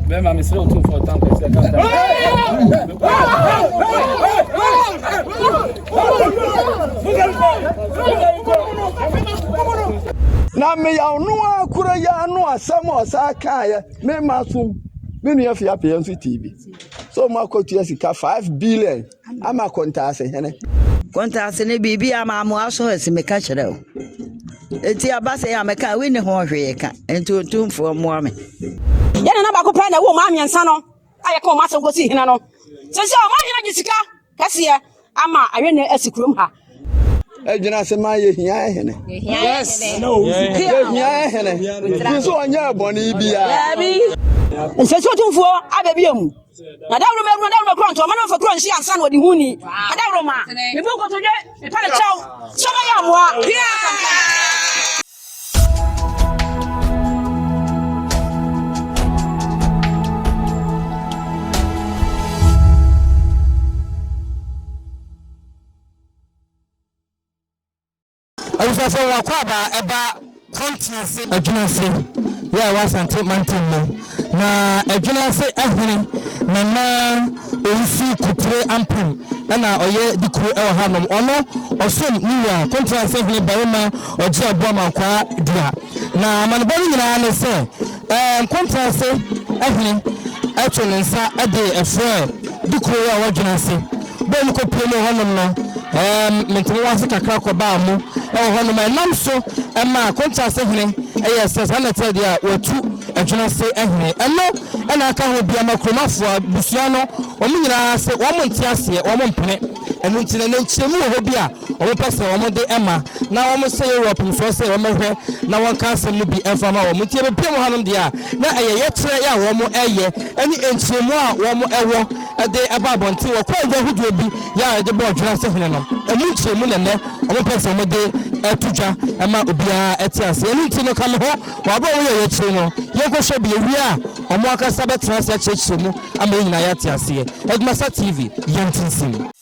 Bɛma mesrɛ wo tumfoɔ tank sɛ ka tank. na meyaw no a koro yɛ ano asɛm a ɔsaa kaeɛ mema som me nua fiapeɛ nso tv so moakɔtua sika 5 billion ama Kontase hene. Kontase ne biribiara ma amoa so asi meka kyerɛ wo. Enti aba sɛ yɛ a mɛka a wonni ho hwee ka, enti otumfoɔ mmoa me. Yɛn nana baako pɛ na ɛwɔ mmaa mmiɛnsa no a yɛka wɔn asɛm kɔsii hene no. Seesei ɔma hene de sika kɛseɛ ama ayɛ na asi kurom ha. ɛgyina ase ma yɛhia hene yɛhia hene fi so ɔnyɛ bɔne biara nsɛ sɛ ɔtumfoɔ aba bio mu na dawuro mɛwuro dawuro mɛkorɔ ntɔ ɔma no mfa korɔ nhyia nsa na ɔde hu ni na dawuro ma mebɔ nkotodwe mepa ne kyɛw sɛ ɔbɛyɛ amoa Abusuafo wɔn akwaaba ɛba kwantia ase. Adwene ase yɛ a ɛwɔ Asante mantam mu na Adwene ase ɛhene Nana Owusu Kupre Ampem ɛna ɔyɛ dikuro ɛwɔ ha nom. Ɔno ɔsom ne wura Kwantia ase hene barima Ɔgye Aboa Mankwaa dua. Na amanebɔ no nyinaa ne sɛ. Nkontrase Ɔhene to ne nsa de frɛ de kuro yi a ɔwɔ dwene ase. Bere a ɔmo kɔ pue mu wɔ hɔnom no, Mintimi wɔ ase kakra kɔbaa mu wɔ hɔnom. Ɛnam so maa Kontrase Hene yɛɛ sɛ saa na ɛteɛ deɛ a watu Dwene ase Hene. Ɛno na aka ho bi ama kurom afoa abusua no, ɔmo nyinaa se ɔmo nte aseɛ, ɔmo mpene. Ɛno nti na na nkyeremu wɔ hɔ bi a Wɔpɛ sɛ wɔde ɛma na wɔhyɛ Europe nsoɔ sɛ wɔmmɛhwɛ na wɔnka asɛm no bi mfa ma wɔn. Nti yɛbɛpue mu hanom deɛ a, na ɛyɛ yɛkyerɛ yɛ a wɔyɛ ne nkyerɛmu a wɔwɔ de ba abɔnten. Wɔkɔɔ dwa ahodoɔ bi yɛ a yɛde bɔɔ dwene ase hene no, ɛmu nkyerɛmu na nnɛ wɔpɛ sɛ wɔde to dwa ma obiara te ase. Ɛno nti no, ka me ho wɔ aberɛ a wɔyɛ yɛ akyire no, yɛnkɔhwɛ bi. Yɛwie a, wɔn ankasa bɛtena ase akyerɛkyerɛ mu ama yɛn nyinaa yɛate aseɛ. Edmasa TV, yɛntintim!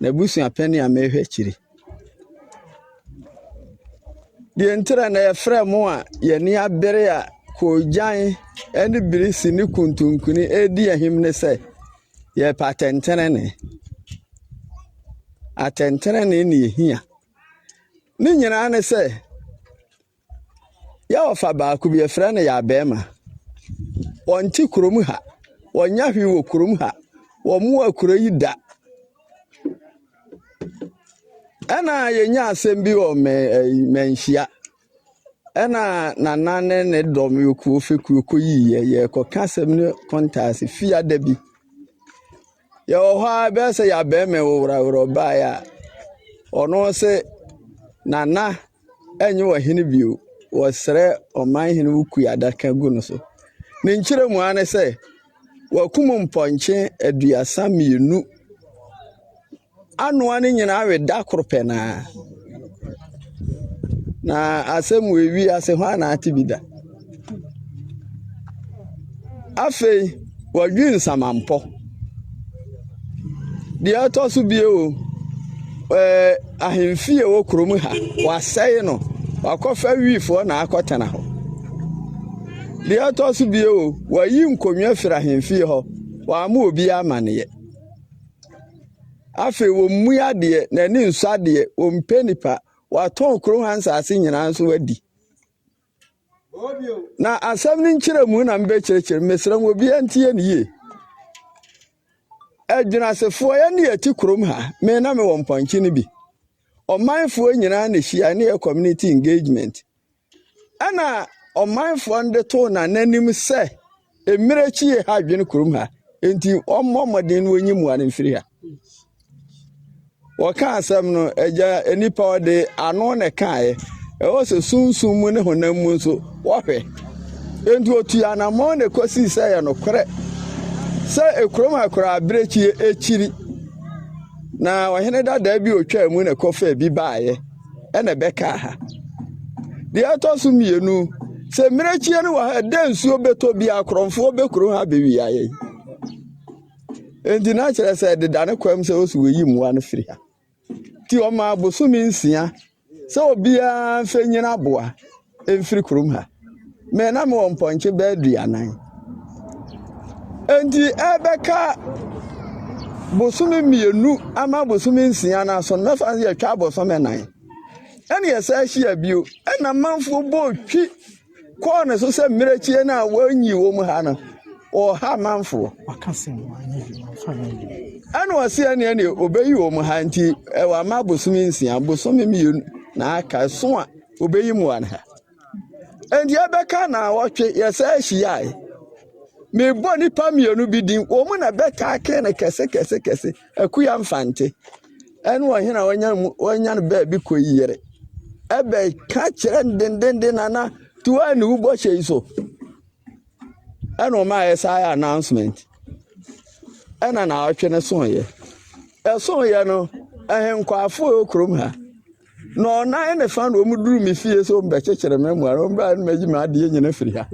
M'abusua pɛn a mehwɛ akyiri. Deɛ nti na na yɛfrɛ mo a yɛni abere a koogyan ne birisi ne kuntunkuni redi ahim ne sɛ, yɛpɛ atɛntɛnenee. Atɛntɛnenee na yɛhia. Ne nyinaa ne sɛ, Yɛ ɔfa baako bi yɛfrɛ no yɛ abɛɛma. Wɔnte kurom ha. Wɔnyɛ hwee wɔ kurom ha. Wɔmmoa kuro yi da. Ɛna yɛnya asɛm bi wɔ manhyia. Ɛna nana ne ne dɔm yɛkuo fekuo kɔyiiɛ. Yɛkɔka asɛm no kɔntaase fiada bi. Yɛwɔ hɔ ara bɛyɛ sɛ yɛabɛɛma ɛwoworaworɔ baeɛ a, ɔno se, Nana, ɛnyɛ ɔhene bio. Wɔsrɛ ɔmanhene wo kui adaka gu no so. Ne nkyerɛ mu ara ne sɛ, wakum mpɔnkye aduasa mmienu. anoa ne nyinaa we da koro pɛ no ara na asɛm wɔ ewi ase hɔ a na ate bi da afei wɔdwe nsamampɔ deɛ ɛtɔ so bio ɛɛ ahemfi a ɛwɔ kurom ha wɔasɛe no wakɔfa wiifoɔ na akɔtena hɔ deɛ ɛtɔ so bio wɔayi nkonnwa firi ahemfie hɔ wɔama obi amaneɛ Afei wɔmmue adeɛ, na ani nsɔ adeɛ, wɔmpɛ nnipa. Wɔatɔn kuro ha nsase nyinaa nso adi. Na asɛm no nkyerɛmu na mebɛkyerɛkyerɛ. Mesrɛ mo, obiara ntie no yie. Adwinasefoɔ, yɛne yɛte kurom ha. Me na mewɔ mpɔnkye no bi. Ɔmanfoɔ nyinaa na ɛhyia ne yɛ community engagement. Ɛna ɔmanfoɔ no de too n'ananim sɛ, Mmerɛ akyi yei ha adwene kurom ha, enti ɔmmɔ mmɔden na ɔnyi mmoa no mfiri ha. Wɔka asɛm no, agya nnipa ɔde ano na ɛkaeɛ. Ɛwɔ sɛ sunsum mu ne honam mu nso wɔhwɛ. Enti ɔtui anammɔn na ɛkɔsii sɛ yɛ nokorɛ sɛ ekurom ha koraa abirekyie akyiri na ɔhene dadaa bi ɔtwaa mu na ɛkɔfa bi baeɛ. na ɛbɛkaa ha. Deɛ ɛtɔ so mmienu, sɛ mmirekyie no wɔ ha ɛdɛ nsuo bɛtɔ bi akorɔmfoɔ bɛkuro ha bɛwia yɛn. Nti na kyerɛ sɛ ɛdeda ne kwan mu sɛ wɔsi wɔyi mmoa no firi ha. Nti wɔmaa bosome nsia sɛ obiara mfɛnyini aboa. mfiri kurom ha. Me na mewɔ mpɔnkye bɛyɛ aduanan. Enti ɛbɛka bosome mmienu ama bosome nsia no aso no mɛfa no yɛtwa abosome nan. Ɛna yɛsɛ ahyia bio. Ɛna manfoɔ bɔ twi kɔɔ ne so sɛ mmerɛkyie no a wɔnyi wɔ mu ha no ɔha manfoɔ. Ɛna ɔse ɛne ɛne ɔbɛyi wɔ mu ha nti ɛwɔ ama bosome nsia bosome mmienu na aka so a obeyi mu ana ɛnti ɛbɛka na ɔtwe yɛsɛ ahyiae mebɔ nipa mmienu bi din wɔn mu na bɛtaa kee no kɛse kɛse kɛse akuya mfante ɛne ɔhene a wɔnya mu wɔnya no baabi kɔ yi yere ɛbɛka kyerɛ no dendenden nana tuwa ne wo bɔhyɛ yi so ɛna ɔma ayɛ saa yɛ announcement ɛna na ɔtwe no so yɛ ɛso yɛ no ɛhenkwaafo kurom ha na ɔnan ne fa na wɔn duru me fie sɛ wɔn bɛkyekyere me mmoa na wɔn bɛyɛ na wɔayi me adeɛ nyina firi ha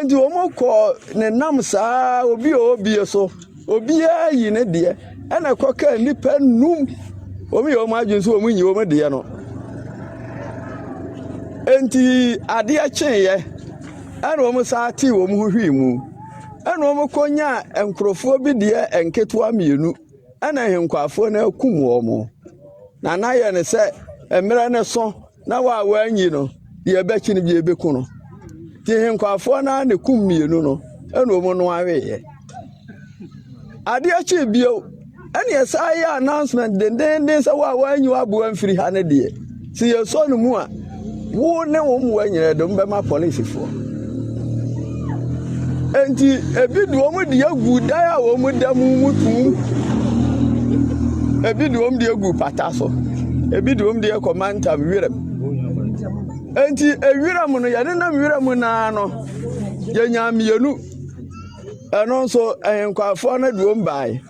nti wɔn kɔ ne nam saa obi a obie so obiara yi ne deɛ ɛna ɛkɔ kaa nnipa num wɔn yɛ wɔn adwene sɛ wɔn nyi wɔn deɛ no nti adeɛ kyeeɛ ɛna wɔn saa te wɔn ho hwii mu ɛna wɔn kɔ nyaa nkurɔfoɔ bi deɛ nketewa mmienu. Ɛna ahenkwaafoɔ no akum wɔn, na na yɛ no sɛ mmerɛ no so na wɔ a wɔanyi no deɛ ɛbɛkye no bi ɛbɛku no. Nti ahenkwaafoɔ no ara na kum mmienu no ɛna wɔn no aweeɛ. Adeɛ kyee bio ɛne ɛsan yɛ announcement dendeenden sɛ wɔ a wɔanyi w'aboa mfiri ha no deɛ. Sɛ yɛsɔ no mu a, wo ne wo mmoa nyinaa de wɔn bɛma polisifoɔ. Enti ebi de wɔn de agu dan a wɔn da mu mu tum. Ebi de wɔn de agu pata so. Ebi de wɔn de akɔ mantam wiram. Enti ewiram no yɛde nam wiram naa no yɛnya mmienu. Ɛno nso ɛhenkwafoɔ no de wɔn baeɛ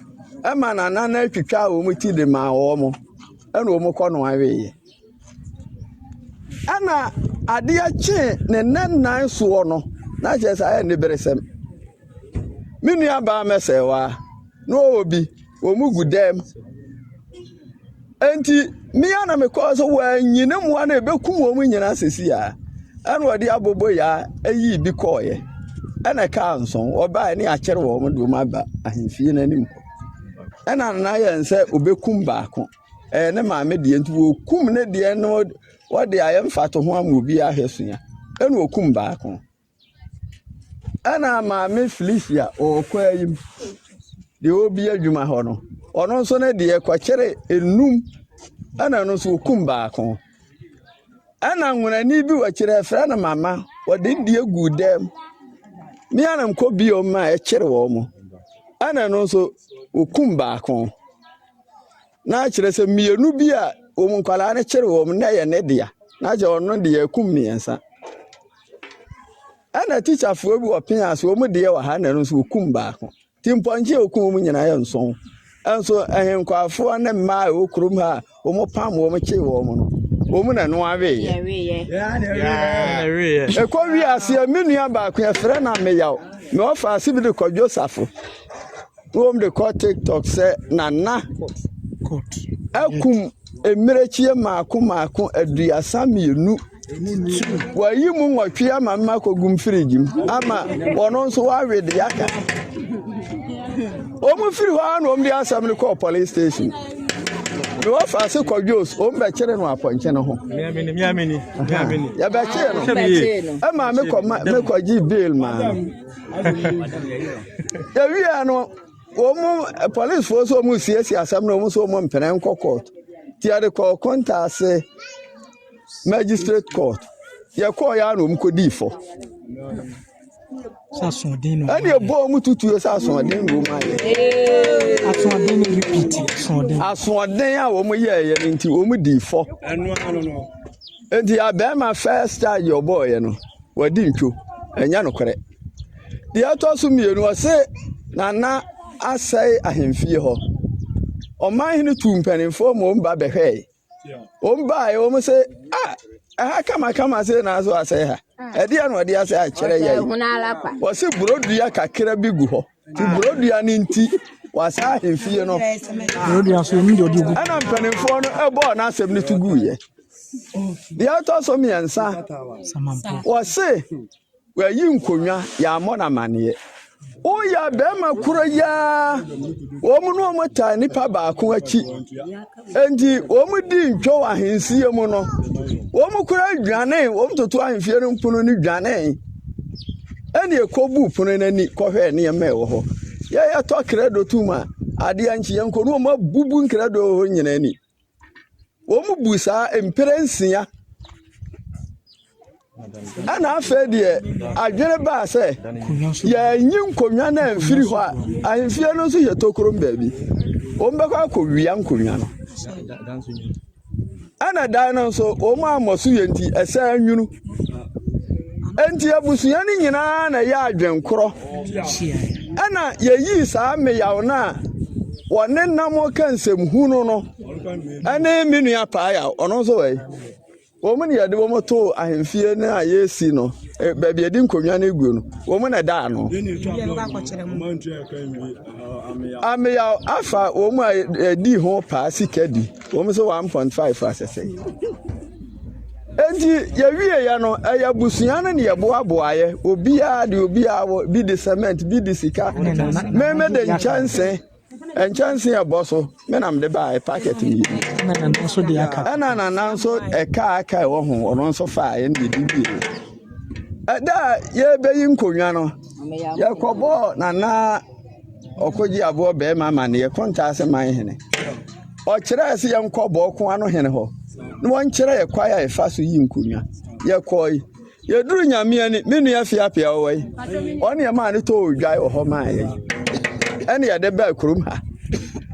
ɛma nana no atwitwa wɔn ti de maa wɔn. ɛna wɔn kɔ no aweeɛ ɛna adeɛ kyee ne nna nnan soɔ no na kyerɛ sɛ ayɛ ne beresɛm me nua baa mɛsɛe wa na ɔwɔ bi wɔn mu gu dɛm nti mmea na mekɔ so wɔanyi ne mmoa no ebekum wɔn nyinaa sisi a ɛna ɔde abobo ya eyi bi kɔɔeɛ ɛna kaa nson ɔbaa ne akyere wɔn de wɔn aba ahemfie n'anim hɔ. Ɛna na ayɛ no sɛ obekum baako. Ɛyɛ ne maame deɛ nti wɔkum ne deɛ no wɔde ayɛ mfatoho ama obi ahwɛ sua. Ɛna okum baako. Ɛna maame Felicia ɔkɔ ayi mu deɛ ɔrebi adwuma hɔ no, ɔno nso ne deɛ kɔkyere enum ɛna ɛno nso okum baako. Ɛna nwunani bi wɔ akyire yɛfrɛ no mama ɔde ne deɛ gu dɛm me a na mekɔ bio ma ɛkyere wɔn mo ɛna ɛno nso wɔkum baako na kyerɛ sɛ mmienu bi a wɔn nkwadaa no kyere wɔn na ɛyɛ ne dea na kyerɛ ɔno deɛ ɛkum mmiɛnsa ɛna tikyafoɔ bi wɔ pea so wɔn deɛ wɔ ha na ɛno nso wɔkum baako. Nti mpɔnkye a okum wɔn nyinaa yɛ nson. Nso ahenkwaafoɔ ne mmaa a ɛwɔ kurom ha a wɔpam wɔn kyee wɔn no, wɔn na ɛno aweeɛ. Ɛkɔ wie aseɛ, me nua baako yɛfrɛ no Ameyaw. Me ɔfa ase bi de kɔ Josafo. Wɔn de kɔ TikTok sɛ Nana akum mmirekyie mmaako mmaako aduasa mmienu. Wɔayi mu nwɔtwe ama no akɔgu mu firigye mu ama wɔn nso wɔawe de aka. Wɔn firi hɔ na wɔn de asɛm no kɔɔ police station. Na wɔfa ase kɔ Jos, wɔn bɛkyere no apɔnkye no ho. Yɛbɛkyee no. Ɛma mekɔ ma mekɔgye bail maa no. Yɛwia no. wɔn polisifoɔ nso wɔn resiesie asɛm no wɔn nso wɔn mpene nkɔ court ti yɛde kɔɔ kɔntaase magistrate court yɛkɔɔ yɛ ano wɔn kɔ dii fɔ ɛna ɛbɔ wɔn tutuo sɛ asoɔden na wɔn ayɛ asoɔden a wɔn yɛɛyɛ no nti wɔn dii fɔ. Nti abɛɛma first charge yɛ ɔbɔɔyɛ no wɔdi ntwo ɛnyɛ nokorɛ deɛ ɛtɔ so mmienu ɔse nana asɛe ahemfie hɔ ɔman hene tu mpanimfoɔ ma wɔn ba bɛhwɛe wɔn baeɛ wɔn se ah ɛha kamakama se na so asɛe ha ɛdeɛ na ɔde asɛe akyerɛ yɛ yi wɔse burodua kakra bi gu hɔ Ti borodua no nti, wɔasan ahemfie no. Borodua so ɛmu deɛ ɔde gu. Ɛna mpanimfoɔ no ɛbɔɔ n'asɛm no to guiɛ. Deɛ ɛtɔ so mmiɛnsa, wɔse wɔayi nkonnwa yɛammɔ no amanneɛ. Woyɛ bɛrima koro yi ara, wɔn ne wɔn taa nipa baako akyi. Enti wɔdii ntwɔw ahensie mu no, wɔn kura dwanee, wɔn toto ahemfie no mpono no dwanee, ɛne ɛkɔbu pono no ani kɔhwɛɛ nneɛma a ɛwɔ hɔ. Yɛyɛ tɔ krɛdo tum a, adeɛ nkye yɛn kɔ no, wɔn abubu nkrɛdo wɔ hɔ nyinaa ni. Wɔn bu saa mpere nsia. ɛna afei deɛ adwene baa sɛ yɛanyi nkonnwa no amfiri hɔ a ahemfie no nso yɛ tokorom baabi wɔbɛkɔ akɔwia nkonnwa no ɛna dan no nso wɔn ammɔ so yɛ nti ɛsɛn nwunu nti abusua no nyinaa na ɛyɛ adwenkorɔ ɛna yɛyii saa mmeyaw no a wɔne nam ka nsɛm hunu no ɛne me nua paa yaw ɔno nso wɔ yi Wɔn na yɛde wɔn too ahemfie no a yɛresi no, eh, baabi yɛde nkonnwa no gu no, wɔn na ɛdaa no. Ameyaw afa wɔn a yɛdi ho paa sika di, wɔn nso 1.5 asɛsɛ. Enti yɛwieeɛ no, ɛyɛ abusua no ne yɛboaboaeɛ, obiara de obiara wɔ, bi de cement, bi de sika, meme de nkyɛnse. nkyɛnse a ɛbɔ so me na mede baa packet mmienu ɛna nana nso ɛka aka ɛwɔ ho ɔno nso faa ɛna yɛdi mmienu ɛda a yɛbɛyi nkonnwa no yɛkɔbɔɔ nana ɔkɔgye aboɔ bɛrima ma ne yɛkɔ ntaase man hene ɔkyerɛɛ sɛ yɛnkɔ bɔɔko ano hene hɔ na wɔnkyerɛ yɛ kwae a yɛfa so yi nkonnwa yɛkɔe Yɛduru Nyame ani, me nua Fiapia ɔwɔ yi, ɔne yɛ maa no tɔɔ odwan wɔ hɔ maa yɛ yi. Ɛne yɛde baa kurom ha.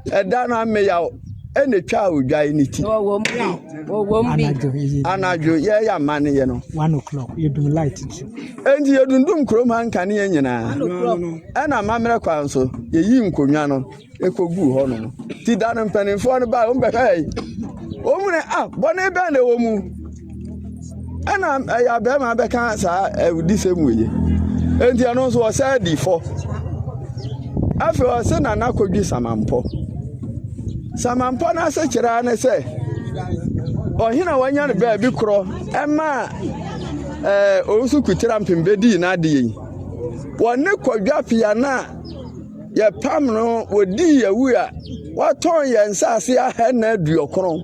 Ɛda no ameyaw ɛna twaa odwan ne ti. Anadwo yɛyɛ amane yɛ no. Enti yɛdundum kurom ha nkanea nyinaa. Ɛna amammerɛ kwan so, yɛyi nkonnwa no. koguu hɔ no. Ti da no mpanimfoɔ no baa wɔn bɛhwɛɛ yi. Wɔn mu ne a ah, bɔne bɛn na ɛwɔ mu? Ɛna ɛyɛ abɛɛma bɛka saa awudisɛm wɔ yi. Enti ɛno nso ɔsɛ di fɔ. Afei ɔse na n'akɔdwi samampɔ. Samampɔ no ase kyerɛ ne sɛ ɔhene a wanya no baabi korɔ ɛma ɛɛ owusu kutira mpem bɛdii n'adeɛ yi. Wɔne kɔdwa pia no a Yɛpam no, wɔdii yɛn wu a, wɔtɔn yɛn nsase ahɛnna aduɔkron.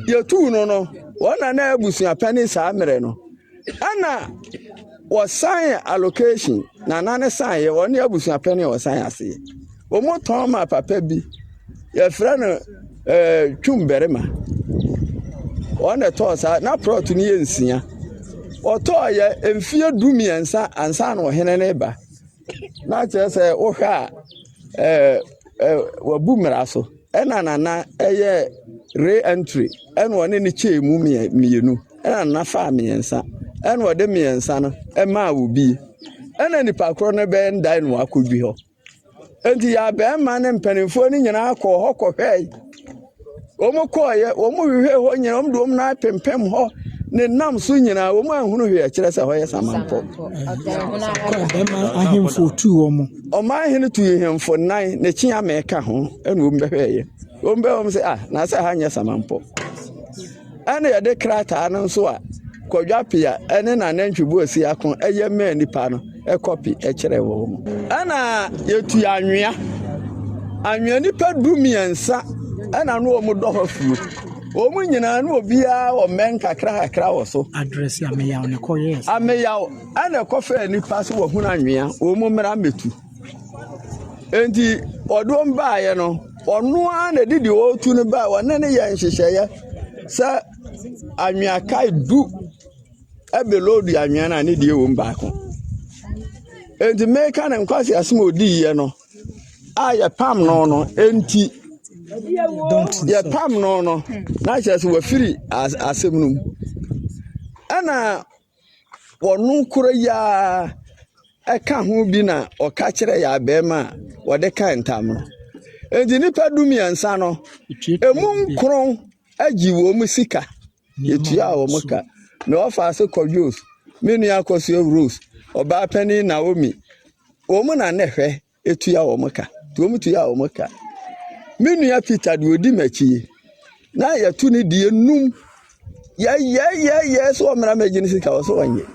Yɛtuu no no, wɔn na na abusuapɛ ne saa mmerɛ no. Ɛna wɔsan allocation, na na ne san yɛ wɔne abusuapɛ ne wɔsan aseɛ. Wɔtɔn ma papa bi, yɛfrɛ no ɛɛ eh, twum barima. Wɔn na ɛtɔɔ saa, na plot no yɛ nsia. Wɔtɔɔ yɛ mfeɛ du mmiɛnsa ansa na ɔhene ne ba. na kyerɛ sɛ wohwɛ a ɛɛ ɛɛ wabu mmara so ɛna nana ɛyɛ re entry ɛna ɔne ne kyɛɛ mu mmienu ɛna nana faa mmiɛnsa ɛna ɔde mmiɛnsa no ɛmaa obi ɛna nipa korɔ no bɛyɛ ndae na wakɔdwi hɔ nti yɛ abɛɛma ne mpanimfoɔ no nyinaa kɔɔ hɔ kɔhwɛe. wɔkɔeɛ wɔhwehwɛɛ hɔ nyina wɔde wɔn nan pempem hɔ ne nam so nyinaa wɔn anhunu hwee ɛkyerɛ sɛ hɔ yɛ samanpɔ ahemfo tuu wɔn ɔman hene tuu ahemfo nan ne kyea mɛka ho ɛna wɔn bɛhwɛɛyɛ wɔn bɛwɔm sɛ ah na sɛ ha nyɛ samanpɔ Ɛnna yɛde krataa no nso a Kwadwo Appiah ne n'anantwi Boasi Ako yɛ maa nnipa no kɔpe kyerɛɛ wɔn. Ɛnna yɛtu anwea. Anwea nipa du mmiɛnsa na na wɔn dɔ hɔ fuo. Wɔn nyinaa na obiara wɔ mmɛn kakrakakra wɔ so. Ameyaw na ɛkɔfaa nnipa sɛ wɔhunu anwea, wɔn mmra mmɛtu. Enti ɔde wɔn baeɛ no, ɔno ara na ɛde deɛ ɔretu no baeɛ. Ɔne no yɛɛ nhyehyɛeɛ sɛ anwea kae du de loodi anwea no a, ne deɛ wom baako. Enti meka no nkwaseasɛm a ɔdiiɛ no a yɛpam no no nti, yɛpam no no na kyerɛ sɛ wafiri asɛm no mu. Ɛna Wɔno koro yi ara ka ho bi na ɔka kyerɛ yɛn abɛɛma a wɔde ka ntam no. Enti nnipa du mmiɛnsa no, emu nkron agye wɔn sika. Yɛtua wɔn ka. Na wɔfa ase kɔ Jos. Me nua Akosua Rose, ɔbaa panin Naomi, wɔn na na ɛhwɛ tua wɔn ka nti wɔn tua wɔn ka me nua peter deɛ ɔdi m'akyi yi na yɛto ne deɛ num yɛyɛyɛyɛ sɛ ɔmmra mɛgye ne sika wɔ sɛ ɔnyɛ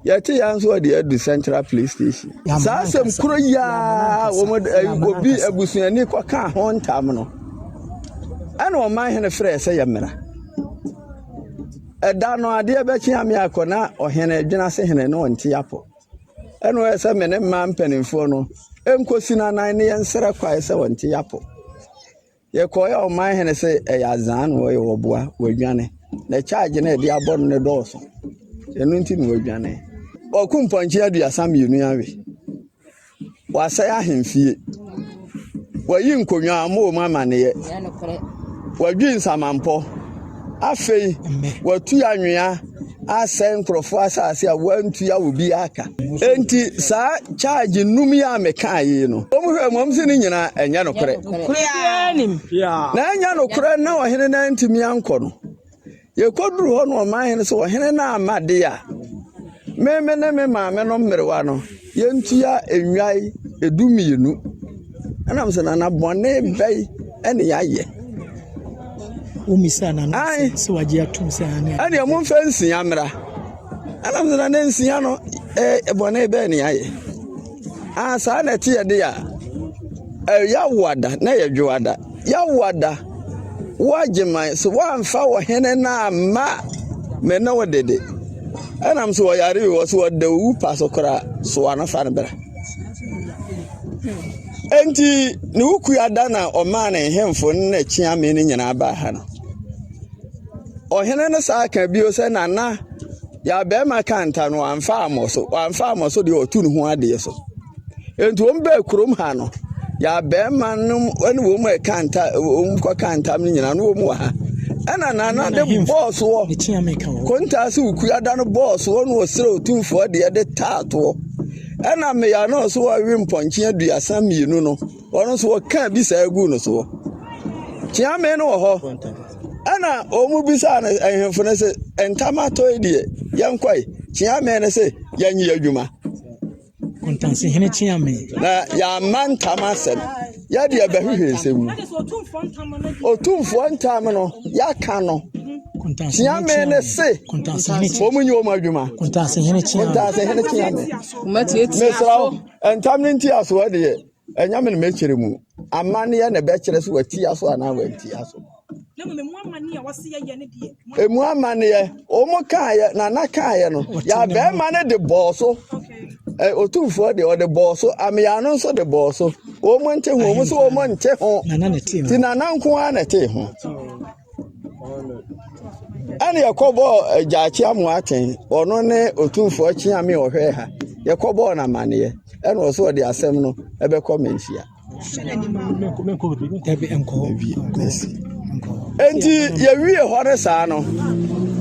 yɛte yɛn nso ɔde adu central police station saa asɛm koro yia wɔn eh, obi abusuani kɔka ho ntam no ɛna ɔman hene frɛ sɛ yɛmmra ɛda no adeɛ bɛkye ame akɔ na ɔhene dwena se hene ne ɔnte apɔ Ɛna ɔyɛ sɛ me ne mmaa mpanimfoɔ no nkɔsi no anan na yɛnsrɛ kwae sɛ wɔnte yɛn apɔ. Yɛkɔeɛ a ɔman hene se ɛyɛ adzaa na ɔyɛ ɔboa, wadwane. Na charge no a yɛde abɔ no no dɔɔso. Ɛno nti na wadwane. Wɔko mpɔnkye aduasa mmienu awe. Wɔasɛe ahemfie. Wɔayi nkonnwa a wɔwɔ mu amaneɛ. Wɔadwi nsamampɔ. Afei wɔatu anwea asɛe nkurɔfoɔ asase a wɔantua obiara ka. Enti saa charge nnum yi a mekaa yi no, wɔhwɛ mmom sɛ ne nyinaa ɛnyɛ nokorɛ. Na ɛnyɛ nokorɛ na ɔhene no antumi ankɔ no. Yɛkɔduruu hɔ no, ɔmanhene sɛ, Ɔhene no amma de a, me me ne me maame no mmerewa no, yɛntua nnwan dumienu. Ɛnam sɛ nana bɔne bɛn ne yɛayɛ? Womisaa nana sɛ wagye atom sɛ ane. Ɛnea momfa nsia mmra. Ɛnam sɛ nana nsia no, bɔne bɛn ne yɛayɛ? Aa saa na ɛteɛ de a, yɛawoada na yɛdwoada. Yɛawoada, woagye man so, woamfa ɔhene no amma me ne wo de de. Ɛnam sɛ ɔyare o, ɔsɛ ɔda owu pa so koraa, soa no fa no bra. Enti ne wo kua da na ɔmaa ne nhemfo ne n'akyiame no nyinaa baa ha no. Ɔhene no saa ka bio sɛ, Nana, Deɛ barima ka nta no, wamfa ammɔ so. Wamfa ammɔ so deɛ ɔtu ne ho adeɛ so. Enti wɔn baa kurom ha no, yɛ barima no ne wɔn mu ɛka nta wɔn kɔka ntam no nyinaa no wɔn wɔ ha. Ɛna nana de bɔɔ soɔ. Kontaa so kua da no bɔɔ soɔ na ɔsrɛ otumfoɔ deɛ de taa toɔ. Ɛna mmeya no so ɔwe mpɔnkye aduasa mmienu no. wɔn nso wɔkaa bi saa guu no soɔ kyeame no wɔ hɔ ɛna wɔn bisaa no ahemfo no sɛ ntam atɔe deɛ yɛnkɔe kyeame no sɛ yɛnye adwuma kɔntansehene kyeame na yɛama ntam asɛm yɛde ɛbɛhwehwɛ nsɛm mu ɔtumfoɔ ntam no yɛaka no kyeame ne se wɔn nyi wɔn adwuma kɔntansehene kyeame mesrɛ Ntam no ntia so deɛ, ɛnyɛ me na mɛkyerɛ mu. Amanneɛ na ɛbɛkyerɛ sɛ watia so anaa wantia so. Emu amanneɛ, wɔn kaeɛ, nana kaeɛ no, yɛ abɛɛma no de bɔɔ so. Otumfoɔ deɛ ɔde bɔɔ so, amea no nso de bɔɔ so. Wɔn nte ho, wɔn nso wɔn nte ho. Ti nana nko ara na ɛte ho. ɛne yɛkɔbɔɔ agyaakye amoa atɛn ɔno ne ɔtumfoɔ kyeame ɔhwɛɛ ha yɛkɔbɔɔ no amanneɛ ɛna ɔsɛ ɔde asɛm no ɛbɛkɔ manhyia enti yɛwie hɔ no saa no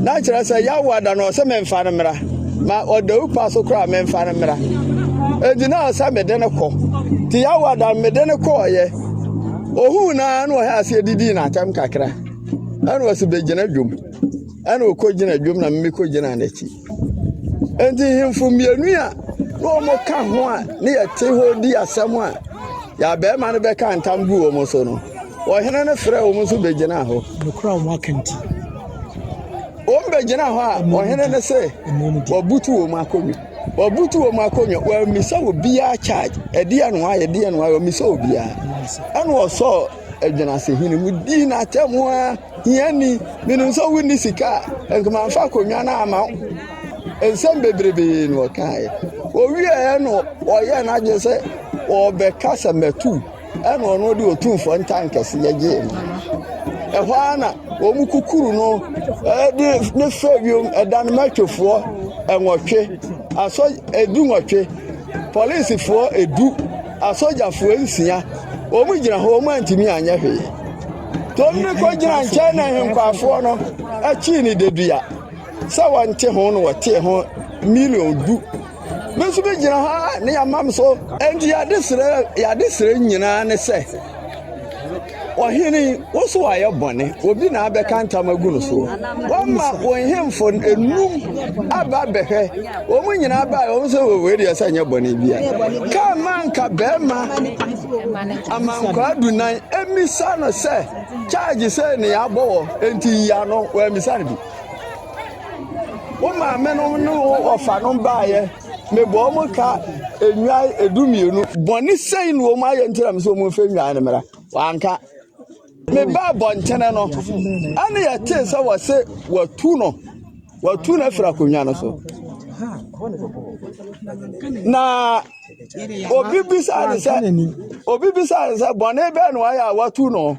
na kyerɛ sɛ yɛawo ada no ɔsɛ memfa no mmra ma ɔdawu pa so koraa memfa no mmra enti na ɔsɛ mede no kɔ nti yɛawo ada mede no kɔɔyɛ Ohun no ara na ɔhyɛɛ aseɛ didii n'atɛm kakra. Ɛna ɔse bɛgyina dwom. Ɛna ɔkɔgyina dwom na me kɔgyinaa n'akyi. Enti nhemfo mmienu a na wɔka ho a ne yɛte hɔ di asɛm a yɛn abɛɛma no bɛka ntam gu wɔn so no, ɔhene no frɛɛ wɔn nso bɛgyinaa hɔ. Nokora wɔn aka nti. Wɔn bɛgyinaa hɔ a, ɔhene no se wɔbutu wɔn akonnwa. Wɔbutu wɔn akonnwa, wɔammisa obiara charge. Ɛdeɛn na wɔayɛ, ɛdeɛn na wɔayɛ, wɔmmisaa obiara. Ɛna wɔsɔɔ Agyinasehene mu dii no atɛm ara, hiani, menim sɛ wonni sika a, nka mamfa akonnwa no amma wo. Nsɛm bebrebee na ɔkaeɛ. Ɔwieeɛ no, ɔyɛɛ n'adwene sɛ ɔrebɛka sɛ mmɛto wo. Ɛna ɔno de otumfoɔ ntankɛse yɛ gyee no. Ɛhɔ ara na wɔn kukuru no de ne fɛ wiem ɛdan mɛtwefoɔ nwɔtwe, asɔ edu nwɔtwe, polisifoɔ edu, asogyafoɔ nsia. Wɔn gyina hɔ, wɔn antumi anyɛ hwee. Tom ne kɔ gyina nkyɛn na ahenkwafoɔ no akyi ne dedua sɛ wɔnte ho na wɔtee ho milion du. Me nso megyina hɔ a ne yɛamam so. Enti yɛade serɛ nyinaa ne sɛ, Ɔhene, wo so ayɛ bɔne, obi na abɛka ntam agu no so. Wama wo nhemfo enum aba bɛhwɛ. Wɔn nyinaa bae, wɔn sɛ wɔwɔ deɛ sɛ nyɛ bɔne bia. Kaa ma anka bɛrima amankwaa dunan mmisa no sɛ, charge sɛ ne yɛabɔ wɔ, enti yi ano, wɔammisa no bi. Wo maame no ne wo ɔfa no baeɛ, mebɔ wɔn ka nnwan edu mmienu. Bɔne sɛn na wɔn ayɛ nti na mesɛ wɔn mfa nnwan no mmra? Wanka. Mebaa bɔntene no, ɛne yɛtee sɛ wɔse watu no, watu no afiri akonnwa no so. Na obi bisaa ne sɛ, obi bisaa ne sɛ, bɔne bɛɛ na wayɛ a watu no?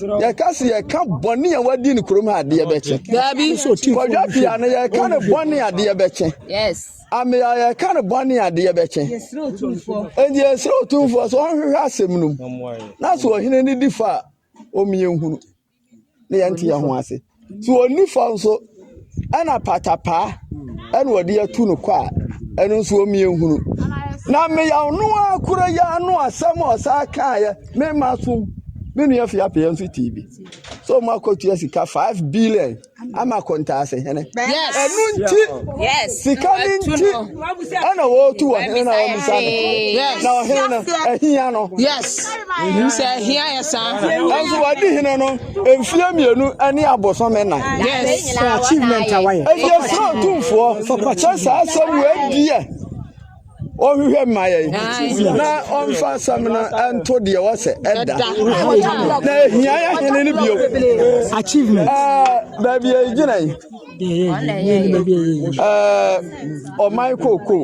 yɛka sɛ yɛka bɔne a wadi no kurom ha adeɛ bɛkyɛ kɔdwa pia no yɛka no bɔne adeɛ bɛkyɛ amea yɛka no bɔne adeɛ bɛkyɛ ɛnti yɛsrɛ ɔtumfoɔ sɛ ɔnhwehwɛ asɛm no mu na sɛ ɔhene no di fa a ɔmyɛ nhunu ne yɛnte yɛ ho ase To wɔn nifa nso, ɛna patapaa ɛna wɔde atu no kɔ a, ɛno nso wɔn yɛnhunu. Na mmeyaw no ara koro yi ara no asɛm a ɔsan kaeɛ, me mma so me nua fi apɛyɛ nso tii bi. So wɔn akɔtua sika five billion ama kɔntaase hene. Yes. Ɛno nti, Yes. sika no Ɛtu nti no. ɛna wɔretu ɔhene na wɔn nsa no. Yes. Na ɔhene no, ahia no. Yes. Sɛ ahia yɛ saa. Nanso wɔde hene no. Mfeɛ mmienu ne abosome nnan. Yes, for achievement a wayɛ. Ɛdi ɛsoro tumfoɔ sɛ saa asɛm wei deɛ ɔhwehwɛ mma yɛn na ɔmfa asɛm no ɛnto deɛ wɔ sɛ ɛda na ɛhia yɛ hene no bio. Achievement. Baabi a ɛgyina yi. ɔman kooko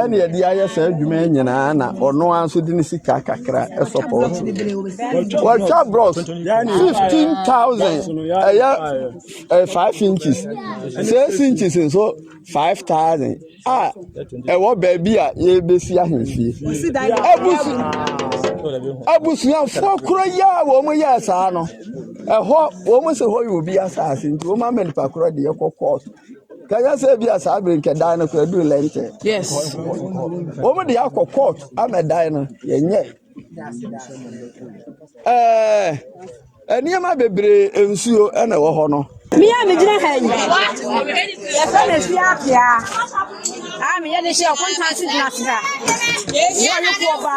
ɛne ɛde ayɛ saa adwuma yi nyinaa na ɔno ara nso de ne sika kakra ɛsɔpɔɔto wɔtwa brɔs fifteen thousand ɛyɛ five inches six inches nso five thousand. a ɛwɔ baabi a yɛrebɛsi ahemfie abusuafoɔ korɔ yi a wɔn yɛɛ saa no ɛhɔ wɔn sɛ hɔ yɛ obi asase nti wɔn ama nipa korɔ deɛ kɔ kɔɔto kanyɛ sɛ ebi a saa bere nkɛdan no kora duru lɛntɛ wɔn de akɔ kɔɔto ama dan no yɛnyɛ ɛɛ nneɛma bebree nsuo ɛna ɛwɔ hɔ no. mi a megyina ha yi yɛfrɛ me fie apea a meyɛ de hyɛ ɔkontanse gyina se ha yɛ ɔyoko ɔba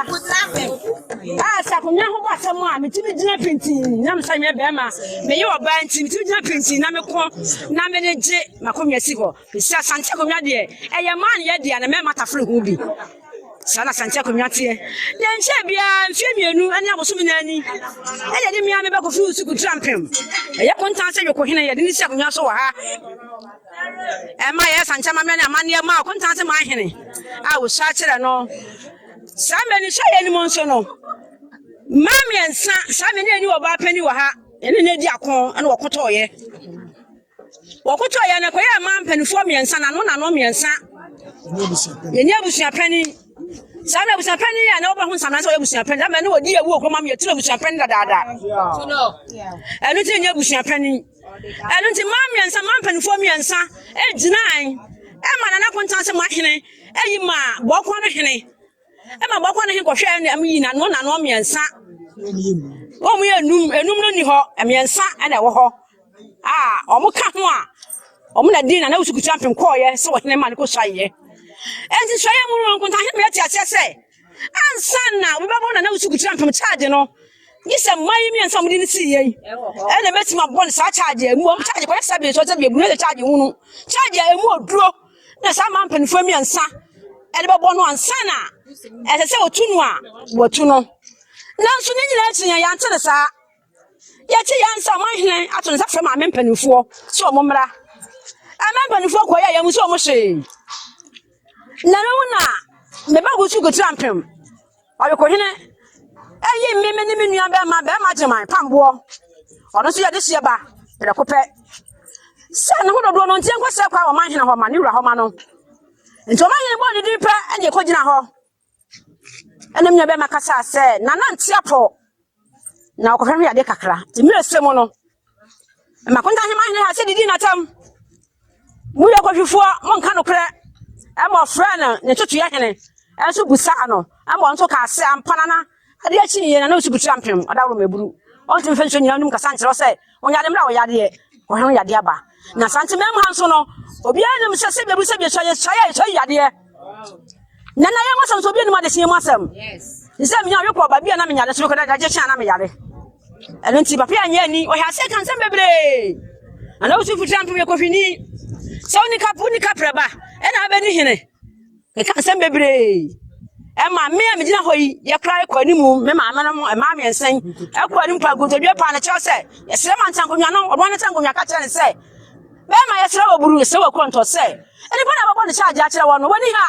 a sɛ akonnwa ho bɔ asɛm a metumi gyina pintin na mesa nyɛ bɛrima meyɛ ɔbaa nti metumi gyina pintin na meko na mede gye makonnwa si hɔ Nso Asante akonnwa deɛ, ɛyɛ mmaayɛ dea na mmarima tafere ho bi. Saa na Asante akonnwa teɛ. Deɛ nkyɛɛ biara mfeɛ mmienu ne abosome nan ni na yɛde me ara me ba Kofi Usuku Trampem, ɛyɛ Kontan sɛ Yokohene, yɛde no si akonnwa so wɔ ha. Ɛma yɛyɛ Asante amammerɛ ne amanneɛ maa Kontan sɛ Manhene a wɔsua kyerɛ no. Saa mmanisoyɛ no mu nso no, mmaa mmiɛnsa, saa me ne ani wɔ ɔbaa panin wɔ ha, ɛne no adi ako na wɔko tɔɔeɛ. Wɔkotɔɔ yɛn na ɛkɔyɛɛ mmaa mpanimfoɔ mmiɛnsa, n'ano n'ano mmiɛnsa. Yɛnyɛ abusua panin. Saa na abusua panin yɛ a na wobɛho nsamena sɛ ɔyɛ abusua panin. Ama ɛne wɔdi awu ɔkɔma me yɛtiri abusua panin dadaada. Ɛno nti yɛnyɛ abusua panin. Ɛno nti mmaa mmiɛnsa, mmaa mpanimfoɔ mmiɛnsa gyinae ɛma Nana Kontanse ma hene ɛyi ma Bɔɔkɔɔ no hene. Ɛma bɔkɔ no he kɔhwɛ ɛne ɛmo yi nano nano mmiɛnsa. Wɔn yɛ enum, enum no ni hɔ, mmiɛnsa ɛna ɛwɔ hɔ. A wɔn ka ho a, wɔn na din na na wosukutu ampem kɔɔyɛ sɛ wɔhene ma no kɔ suayɛ. Ɛnti suayɛ mu no nkonta he mmerɛ te aseɛ sɛ ansa na wobɛbɔ na na wosukutu ampem charge no gye sɛ mmaa yi mmiɛnsa wɔn de no sii yɛ yi ɛna mɛtumi abɔ no saa charge a emu wɔn charge kɔyɛ sɛbe sɔ sɛbe ebunu ɛyɛ charge hunu charge a emu oduro na saa mmaa mpanimfoɔ mmiɛnsa ɛde bɛbɔ no ansa na ɛsɛ sɛ wɔtu no a wɔatu no nanso ne nyinaa akyi yɛn yɛante no saa yɛte yɛn sɛ ɔman hene ato ne nsa frɛ maame mpanimfoɔ sɛ ɔmo mmra ɛma mpanimfoɔ kɔ yɛ yɛn sɛ ɔmo hyee na no mu na meba gu so kotira mpem Ɔwekohene ɛyi mme me ne me nua bɛrima bɛrima gyeman pamboɔ ɔno nso yɛde hyeɛ ba prɛko pɛ sɛ ne ho dodoɔ no nti ɛnkɔ sɛ kwa wɔ manhene hɔ ma ne wura hɔ ma no nti ɔmanhene bɔɔ ne din pɛ ɛne ɛkɔ gyina hɔ ɛne me nua bɛrima kasa sɛ nana nteapɔ na ɔkɔhwɛ hwɛ ade kakra nti mmerɛ sɛ mu no makonta hema hene ha sɛ didi natam moyɛ kɔhwifoɔ monka nokorɛ ɛma ɔfrɛ no ne totoyɛ hene ɛnso busaa no ɛma ɔnso kaa sɛ ampa nana adeɛ akyi ne yɛ nana ɔsi butira mpem ɔdaworo maburu ɔntumi fɛ nsuo nyina wonim kasa nkyerɛ sɛ Onyame mmra wo yadeɛ ɔhene wo yadeɛ aba na sante mɛm ha nso no obiara nim sɛ sɛbia bi sɛbia sua yɛ sua yɛ sua yadeɛ na na yɛ masɛm so obiara nim adehyɛ mu asɛm sɛ menya ɔwe kɔ ɔba bia na menya de so kɔ dagye hyɛ na meyare ɛno nti papa yɛ nyɛ ni ɔhɛ ase kan sɛm bebree ana wosu fitira mpem yɛ kofini sɛ wonika wonika prɛba ɛna abɛni hene Meka nsɛm bebree. Ɛma me a megyina hɔ yi, yɛkora rekɔ anim, me maame no mmaa mmiɛnsa yi, ɛkɔ anim pa nkotodwe paa no kyerɛ sɛ, yɛsrɛ ma ntankonwa no, ɔbɔn no ntankonwa ka kyerɛ no sɛ, bɛrima yɛsrɛ wɔ buru, yɛsrɛ wɔ kɔntɔ sɛ, nnipa na wɔbɔ ne kyagye akyerɛ wɔn no, wɔni ha.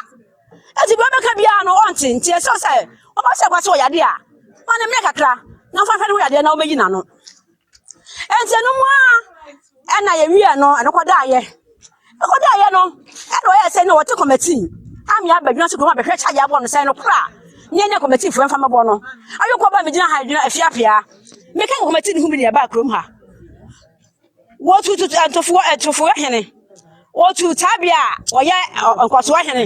Eti deɛ ɔbɛka biara no, ɔnte, nti ɛsɛ sɛ, ɔba sɛ ɛba sɛ ɔyade a, ma no mmerɛ kakra, na ɔmfa nhwɛ ne ho yadeɛ na ɔmɛyi n'ano. Enti ɛno mu ara ɛna yɛwiɛ no ɛno kɔdaeɛ. Ɛkɔdaeɛ no ɛna ɔyɛ sɛ na wɔte kɔmɛtii ame abɛdwena so kurom abɛhwɛ kyɛ adeɛ abɔ no sɛ no kora ne ɛne kɔmɛtiifoɔ ɛmfa mɛbɔ no. Ayɔkɔ ba megyina ha adwena afia pia. Meka kɔmɛtii no ho bi ne ɛbaa kurom ha. Wɔtututu ɛntofoɔ ɛtofoɔ hene. Wɔtuu Tabea a ɔyɛ nkɔsoɔ hene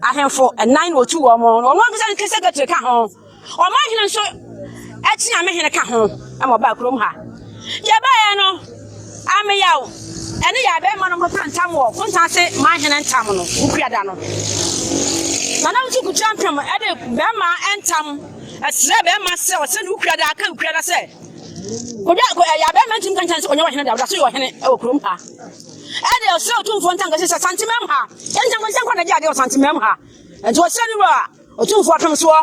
ahemfo nnan na wɔtuu wɔn, na wɔn ankasa ne sekretary ka ho. Wɔn ahene nso kyeame hene ka ho ma wɔbaa kurom ha. Deɛ ɛbaeɛ no, Ameyaw ne yɛn abɛɛma no kɔkaa ntam wɔ Kontanse man hene ntam no Wukuada no. Nana Wusu Kutuampem de bɛɛma ntam srɛɛ bɛɛma sɛ ɔsɛ ne Wukuada ka Wukuada sɛ Obi a ɛyɛ abɛɛma ntumi nkankyɛn sɛ ɔnyɛ ɔhene da ɔda so yɛ ɔhene wɔ kurom ha. Ɛde ɔsrɛ otumfoɔ ntankasi sɛ santemam ha. Nkyɛnkɔnkyɛn kɔ na gye adeɛ wɔ santemam ha. Nti ɔsrɛ ne wura otumfoɔ apemsoɔ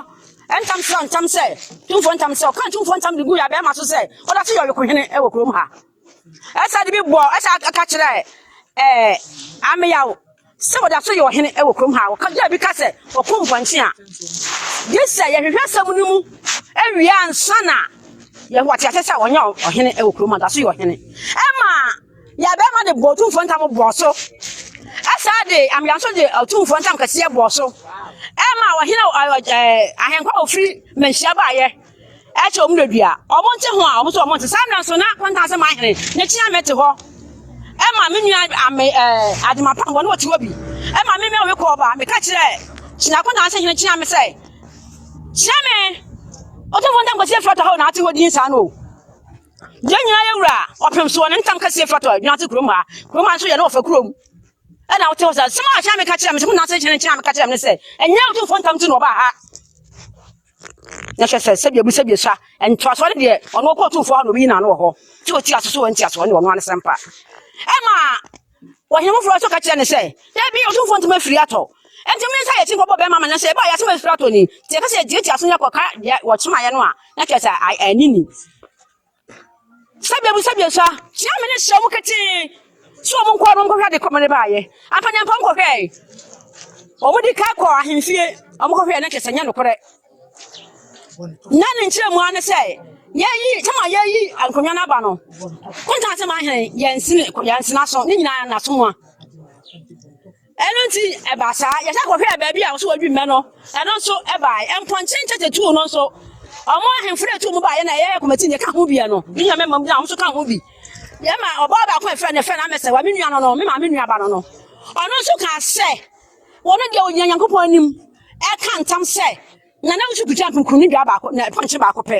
ntam srɛ ntam sɛ tumfoɔ ntam sɛ ɔka tumfoɔ ntam de gu yɛ abɛɛma so sɛ ɔda so yɛ ɔyokohene wɔ kurom ha. Ɛsɛ de bi bɔ ɛsɛ aka kyerɛ ɛɛ ameyaw Sɛ wɔda so yɛ ɔhene wɔ kurom ha a, wɔka dua bi ka sɛ ɔko mpɔnkye a, gye sɛ yɛhwehwɛ asɛm no mu awie ansa na yɛahu ate aseɛ sɛ ɔnyɛ ɔhene wɔ kurom a, ɔda so yɛ ɔhene. Ɛma yɛn abarimaa de bɔɔ otumfoɔ ntam bɔɔ so, ɛsaa de amea nso de otumfoɔ ntam kɛseɛ bɔɔ so, ɛma ɔhene ahenkwa a ɔfiri mmanhyia baeɛ ɛkyɛ wɔn dadu a wɔnte ho a wɔn nso wɔnte saa mmerɛ nso na wɔntaa sɛ man hene na kyia mɛte hɔ ɛma me nua ame ɛɛ adema pam wɔn wɔte hɔ bi ɛma me mɛwɔ me kɔɔ ba meka kyerɛ kyina kɔntaa sɛ hene kyia me sɛ kyia me ɔte ho ntam kɔsi efrata hɔ na ate hɔ din saa no o yɛn nyinaa yɛ wura ɔpem soɔ ne ntam kɛseɛ firi atɔ adwuma ase kurom ha kurom ha nso yɛ ne wɔfa kurom ɛna wote hɔ sɛ sɛm a kyerɛ me ka kyerɛ me sɛ mo nase kyerɛ kyerɛ me ka kyerɛ me ne sɛ ɛnyɛ wotomfoɔ ntam ti na ɔbaa ha Na hwɛ sɛ sɛdeɛ mu sɛdeɛ sua ntoasoɔ no deɛ ɔno ɔkɔ ɔtumfoɔ hɔ na ɔbɛyi n'ano wɔ hɔ sɛ ɔti aso so wɔ ntiasoɔ ne ɔno ano sɛm pa ɛma ɔhene foforɔ nso ka kyerɛ ne sɛ dabi ɔtumfoɔ ntumi afiri atɔ ɛnti me nsa yɛ ti nkɔbɔ bɛrima ma na sɛ ɛbaa yɛ asɛm afiri atɔ ni nti ɛka sɛ ɛdi atiaso ne ɛkɔka deɛ wɔkyemaeɛ no a na kyerɛ sɛ anini Sɛdeɛ mu sɛdeɛ sua. Sua me ne hyɛ mu ketee. Sɛ wɔn nkɔ wɔn nkɔhwɛ ade kɔmene baayɛ. Ampanyampa nkɔhwɛe. Wɔn de ka kɔ ahemfie. Wɔn kɔhwɛe na kyerɛ sɛ nyɛ nokorɛ. Na ne nkyerɛ mu ano sɛ yɛyi tama yɛyi nkonnwa no aba no. Kontan sɛ ma ahene yɛn sene yɛn sena so ne nyinaa na so mua. Ɛno nti, ɛbaa saa, yɛsan kɔhwɛɛ baabi a wɔso wɔdwi mmɛ no, ɛno nso baeɛ. Mpɔnkye nkyɛkyɛ tuu no nso. Wɔn ahemfo na ɛtuu mu baeɛ na ɛyɛ kɔmati na ɛka ho bi no. Me nua mɛma mu na wɔn nso ka ho bi. Yɛma ɔbaa baako a ɛfrɛ no ɛfrɛ no amɛsɛwa, me nua no no, me maame nuaba no no. Ɔno nso kaa sɛ, wɔn deɛ wɔgyina Nyankopɔn anim ɛka ntam sɛ, na na wɔso kuta mprukuru ne dua baako, na mpɔnkye baako pɛ.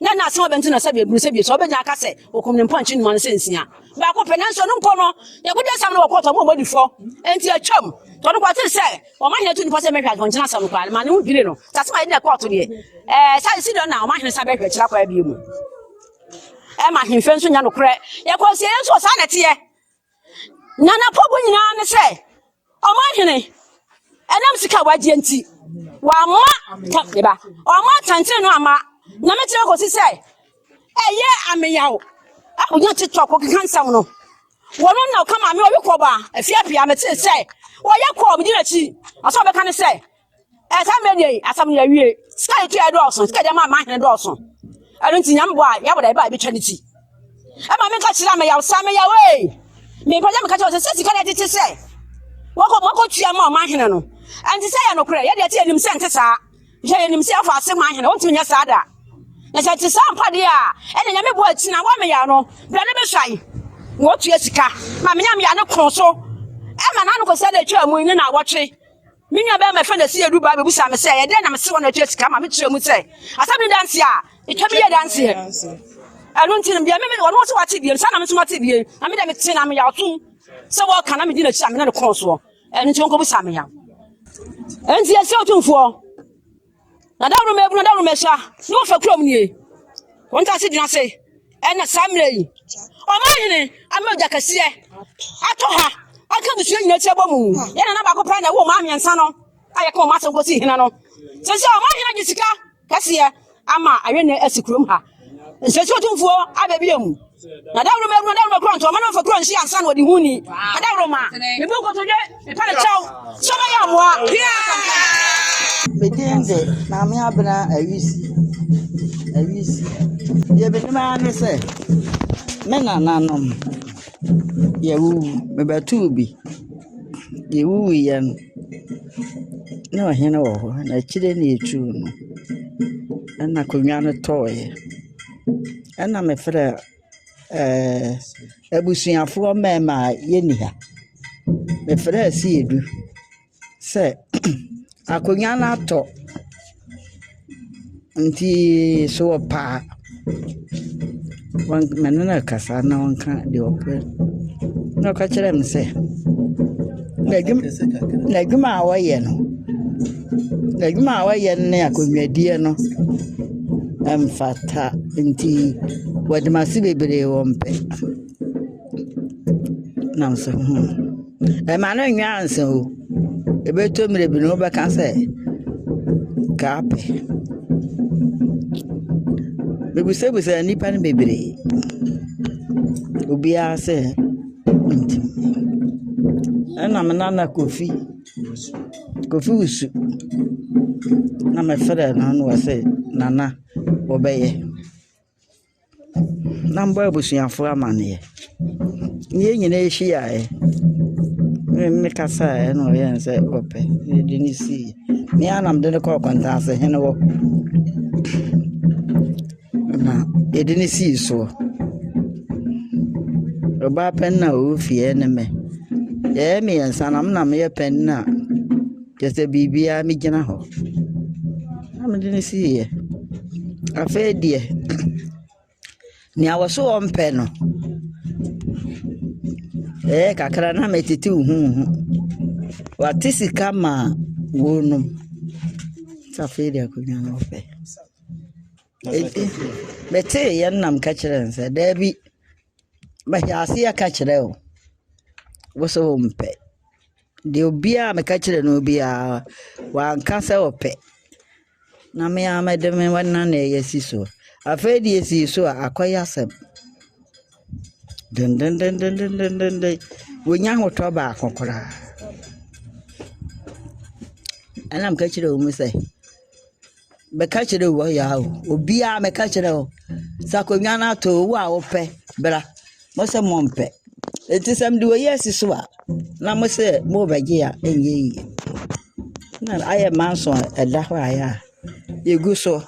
Na na asɛm a ɔbɛnto no asɛ beburu sɛ bie, sɛ ɔbɛnya aka sɛ wɔkum ne mpɔnkye nnuma no sɛ nsia. Baako pɛ, nanso ɔno mpo no, ne kodi asɛm no wɔ kɔɔto a wɔn a wɔadi fɔ. Enti atwam. Tɔ no kɔtee sɛ wɔma hene tu nipa sɛ mmɛhwɛ mpɔnkye no asɛm no koraa no maa ne ho dwirii no. Sɛ asɛm a yɛde na ɛkɔɔto deɛ, ɛɛ, saa Sidon na ɔma hene san bɛhwɛ akyiri akɔ ara bio mu. Ɛma ahemfie nso nya nokorɛ. Yɛkɔ nsieyɛ nso a, saa na ɛteɛ. Na n'apobu nyinaa ne sɛ, ɔmanhene, ɛnam sika a wagye nti, wamma tam ne ba, ɔmma tantere no amma na me tena kɔsi sɛ ɛyɛ ameyaw a wonya tiktok kɔkeka nsɛm no wɔn na ɔka ma me ɔwe kɔba afiapia metee sɛ wɔyɛ kɔɔ medi n'akyi ɔsɛ ɔbɛka ne sɛ ɛsɛ mmerɛ deɛ yi asɛm no yɛwie sika ne tuɛ dɔɔso sika deɛ maa mahene dɔɔso ɛno nti nyame bɔ a yɛabɔ da ɛbɛ a ɛbɛtwa ne ti ɛma menka kyerɛ a meyaw saa meyaw ee mepɛ sɛ meka kyerɛ sɛ sɛ sika deɛ tete sɛ wɔkɔ wɔkɔ tua ma ɔma ahene no ɛnti sɛ yɛ nokorɛ yɛdeɛ te yɛnim sɛ nte saa hwɛ yɛnim sɛ yɛfa ase ma ahene wɔntumi nyɛ saa da na sɛ te saa mpa deɛ a ɛna nyame bɔ akyi na wɔmeyaw no berɛ no bɛsua yi na wɔtua sika ma menyame yɛ ne kɔn so ɛma na anokɔsɛ na ɛtwa mu ne na wɔtwe Me nuabarima a yɛfrɛ no Asiadu baa bebisaa me sɛ, Ɛdɛn na mese wɔ na ɛtua sika ma? Mekyerɛɛ mu sɛ, Asɛm no da nse a, etwa me yɛ adanseɛ. Ɛno nti no, deɛ me mene, ɔno ɔse wate bie no, saa na me nso mate bie no, na me deɛ mete na meyɛ atom sɛ wɔreka na medi n'akyi a me ne no kɔn soɔ. Ɛno nti wɔnkɔbisa me yaw. Enti yɛsrɛ Otumfoɔ. Na daworo mu abunu, daworo mu asua na wɔfa kurom nie. Wɔn ntaase gyina ase ɛna saa mmerɛ yi. Ɔman hene ama ogya kɛseɛ atɔ ha aka abusua nyinaa ti abɔ mu. Yɛn nana baako pɛɛ na ɛwɔ ɔman mmiɛnsa no a yɛka wɔn asɛm kɔsi hene no. Sɛsɛ ɔman hene agye sika kɛseɛ ama ayɛ nɛ asi kurom ha. nsɛsi ɔtumfoɔ aba bio mu na dawuro ma awuro dawuro kuro ntɔma na ɔfa kuro nsi ansa na ɔde ho ni adawuro ma ebi nkotodwe epa ne kyɛw sɔma yɛ amoa medin de maame abena awisi awisi deɛ menim ara ne sɛ me nananom yɛwuwu mebɛtoo bi yɛwuwuiɛ no na ɔhen wɔ hɔ, na ekyir no etur no, nna akonnwa no tɔɔe. Nna mefrɛ ɛɛɛ ebusuafoɔ mmarima a wɔnni ha. Mefrɛɛ Seidu sɛ akonnwa no atɔ. Ntsi sɛ wɔpɛ a, wɔn menye no rekasa na ɔnka deɛ ɔpɛ. Na ɔka kyerɛɛ me sɛ, n'adwuma n'adwuma a ɔyɛ no, n'adwuma a ɔyɛ no ne akonnwadie no mfata nti wɔde m'ase bebree wɔmpɛ. na mese hmm, ɛma no nyɛ ansa o. Ɛbɛtɔ mmerɛ bi no wobɛka sɛ kaa pɛ. Mebisabisaa nnipa no bebree, obiara sɛ ɔntumi. Ɛna me nana Kofi, Kofi Wusu, na mefrɛɛ no na ɔse Nana, wobɛyɛ. Na mbɔ ebusuafo amandzɛɛ. Hɛn nyina hyiae na me kasae na ɔyɛɛ no dɛ ɔpɛ na medze no sii. Me ara na medze no kɔr Kwantase hen hɔ na yɛdze no sii soɔ. Ɔbaa panyin a ɔwɔ fie nye me. Yɛyɛ miɛnsa na me na meyɛ panyin a. Kyɛ sɛ biribiara megyina hɔ na mede no siiɛ. Afei deɛ, nea wɔse wɔmpɛ no, ɛyɛɛ kakra na metete huhuuhu. Wɔate sika ma wɔnom. Nti afei deɛ akonnwa no wɔpɛ. Enti meteeɛ no na meka kyerɛɛ no sɛ, daabi, mahyɛ aseɛ ka kyerɛ wo, wo se wompɛ. deɛ obiara a meka kyerɛɛ no biara, wanka sɛ ɔpɛ. Na me ara mede me nna na ɛyɛ si so. Afei deɛ esii so a, akɔyɛ asɛm. Dendendendendendenden. Wɔnya ahotɔ baako koraa. Ɛna meka kyerɛɛ wɔn sɛ. meka kyerɛ wo yaa o, obiara meka kyerɛ wo sɛ akonnwa no ato o, wo a wopɛ bra. Mo se mompɛ. Enti sɛ mede wei asi so a, na mo se morebɛgye a, ɛnyɛ yie. Na ayɛ manson a ɛda hɔ a ɛyɛ a yɛgu so.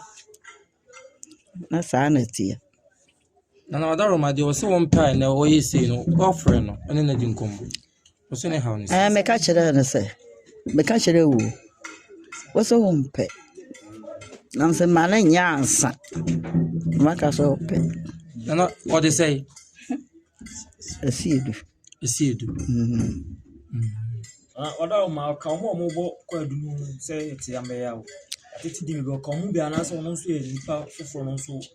Na saa na ɛteɛ. Na na ɔda Roma deɛ ɔsɛ wɔn paa na ɔyɛ sei no ɔfrɛ no ɛne no di nkɔmmɔ ɔsɛ ne haw no ɛɛ meka kyerɛɛ no sɛ meka kyerɛ wo wo sɛ wo mpɛ nam sɛ ma no nyɛ ansa maka sɛ wopɛ nana ɔde sɛ ɛsi edu ɛsi edu ɔda wo ma ɔka ɔmo ɔmo bɔ kɔ adunu sɛ ɛte amɛya o ɛte di mi bɛ ɔka ɔmo bi anaasɛ ɔmo nso yɛ nipa foforɔ no nso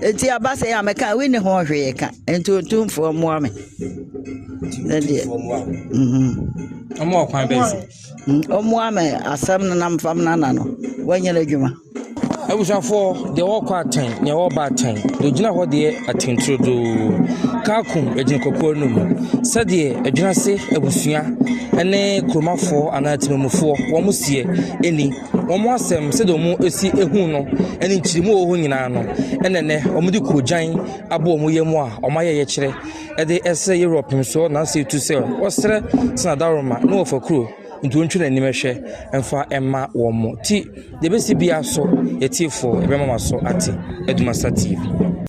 Eti aba sɛ a mɛka wi ne ho hwee ka nti otumfoɔ mmoa me ne deɛ ɔmo ɔkwan bɛn so ɔmoa me asɛm no nam fam nana no wanyɛ no adwuma abusuafoɔ deɛ wɔkɔ atɛn deɛ wɔba atɛn deɛ ogyina hɔ deɛ atenturodoo kaakum agyina kɔkɔɔ no mu sɛdeɛ adwinase abusua ne kuromafoɔ anaa atemamufoɔ wɔn mo seɛ ɛni Wɔn asɛm, sɛdeɛ wɔsi hu no, ne nkyeremu a ɛwɔ hɔ nyinaa no, ɛna nnɛ wɔde koogyan abɔ wɔn yam a wɔayɛ yɛkyerɛ de resrɛ Europe nsoɔ nansa yi tu sɛ wɔsrɛ sɛ adaworoma ne wɔfa kuro nti wɔntwe wɔn anim nhwɛ mfa mma wɔn. Nti deɛ ɛbɛsi biara so, atiefoɔ, yɛbɛma mo aso ate. Adumasa TV.